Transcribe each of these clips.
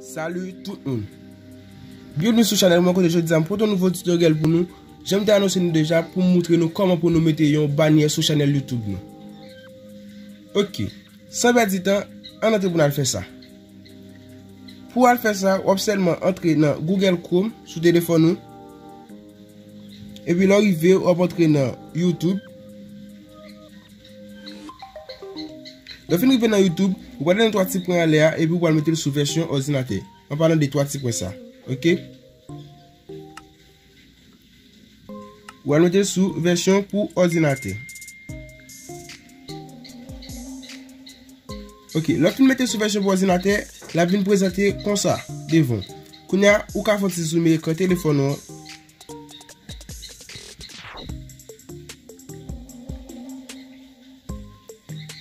Salut tout moun Bienvenue sou chanel mwen kote jodi a m pote yon nouvo tutoriel pou nou Jan m te anonse nou deja pou m moutre nou koman pou nou mete yon banyè sou chanel youtube nou Ok San pèdi tan ann antre pou n al fè sa Pou w al fè sa w ap sèlman antre nan google chrome sou telefòn ou Epi lè w rive w ap antre nan youtube Lè w fin rive nan youtube, ou prale nan 3 ti pwen anlè a epi ou pral mete l sou vèsyon òdinatè. An palan de 3 ti pwen sa. Ok. Ou pral mete l sou vèsyon pou òdinatè. Ok, lè w fin mete l sou vèsyon pou òdinatè, l ap vin prezante konsa devan w. Kounya ou ka fè yon ti zoome ekran telefòn ou an.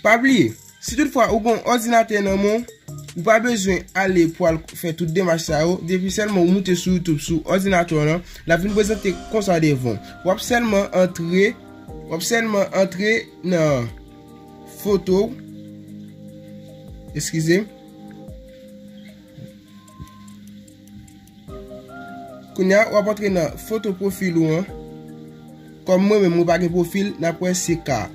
Pa bliye, si tout fwa ou gon òdinatè nan men ou, ou pa bezwen ale pou al fè tout demach sa yo, depi sèlman ou moute sou YouTube sou òdinatè w lan, l ap vin prezante konsa devan w. W ap sèlman antre, w ap sèlman antre nan foto w, eskize m, Kounye a wap antre nan foto profil ou an. Kom mwen menm mwen pa gen profil nap wè se ka.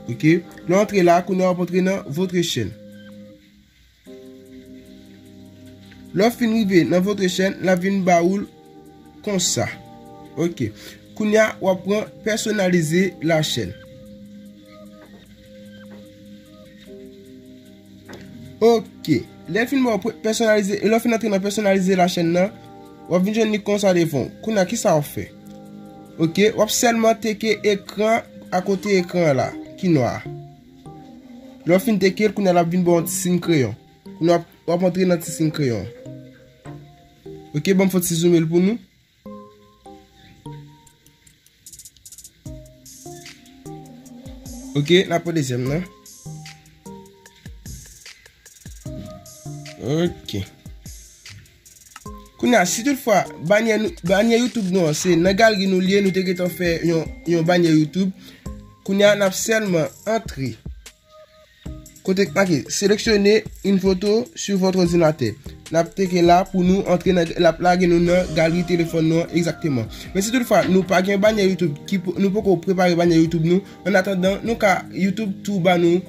Ok lè w antre la kounye a wap antre nan votre chaîne. Lè w fin rive nan votre chaîne lap vin ba ou l konsa. Ok kounye a wap pran personalize la chaîne. Ok, lè fin bon pèsonalize, lè fin antre nan pèsonalize la chèn nan, wap vin jwenn li konsa devan. Kounya kisa wap fè? Ok, wap sèlman teke ekran akote ekran la ki nwa. Lè w fin teke l, kounya lap vin ba w yon ti sin kreyon. Kounya wap antre nan ti sin kreyon. Ok, banm fon ti zoome l pou nou. Ok, la pou dezyèm nan. Ok. Kounè a, si tout fwa, banyè YouTube nou an, se nan galri nou liye, nou te getan fè yon banyè YouTube. Kounè a, nap sèlman antre. Kote k make Seleksyone yn foto su vòt òdinatè. N ap teke la pou nou antre nan l ap lage nou nan galri telefòn nou an egzakteman. Men si toutfwa nou pa gen banyè YouTube ki nou poko prepare banyè YouTube nou, an atandan nou ka YouTube tou ba nou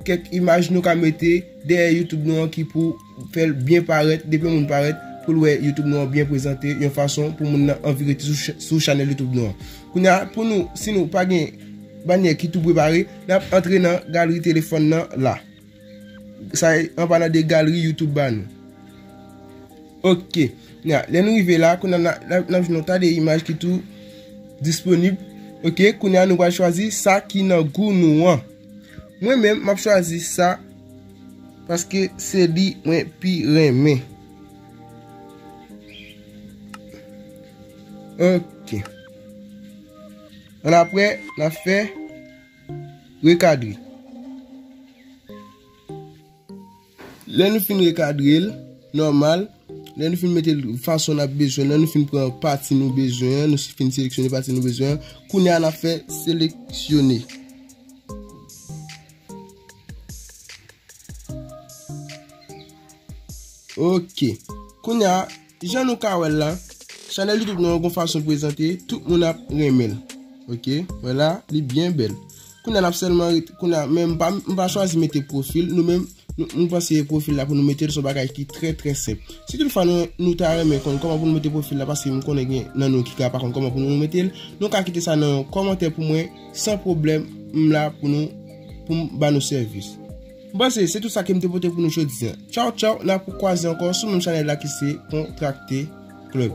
kèk imaj nou ka mete dèyè YouTube nou an ki pou Fè l byen parèt, depi yon moun parèt, pou l wè YouTube nou an byen prezante, yon fason pou moun nan anvi rete sou chanèl YouTube nou an. Kounye a, pou nou, si nou pa gen banyè ki tou prepare, n ap antre nan galri telefòn nan la. Sa e anba nan de galri YouTube ba nou. Ok, kounye a, lè nou rive la, kounye a n ap jwenn yon ta de imaj ki tou disponib. Ok, kounye a nou pral chwazi sa ki nan gou nou an. Mwen menm, m ap chwazi sa. Paske se li mwen pi renmen. Ok. An apre, na fe rekadre. Lè nou fin rekadre l, normal, lè nou fin mete l fason na bezwen, lè nou fin pran pati nou bezwen, nou fin seleksyone pati nou bezwen, kounye a na fe seleksyone. Ok, kounya jan nou ka wè la, chanèl YouTube nou an gon fason prezante, tout moun ap renmen l. Ok, wè la, li byen bèl. Kounya nap sèlman, kounya men m pa chwazi mete profil, nou men m konseye profil la pou nou mete l son bagay ki trè trè senp. Si tout fwa nou ta renmen konn kòman pou nou mete profil la, paske m konnen gen nan nou ki ka pa konn kòman pou nou mete l, nou ka kite sa nan kòmantè pou mwen. San pwoblèm, m la pou nou, pou m ba nou sèvis. M panse se tout sa ke m te pote pou nou jodi an. Tchaw tchaw, n ap kwaze ankò sou menm chanèl la ki se Kontrakte Club.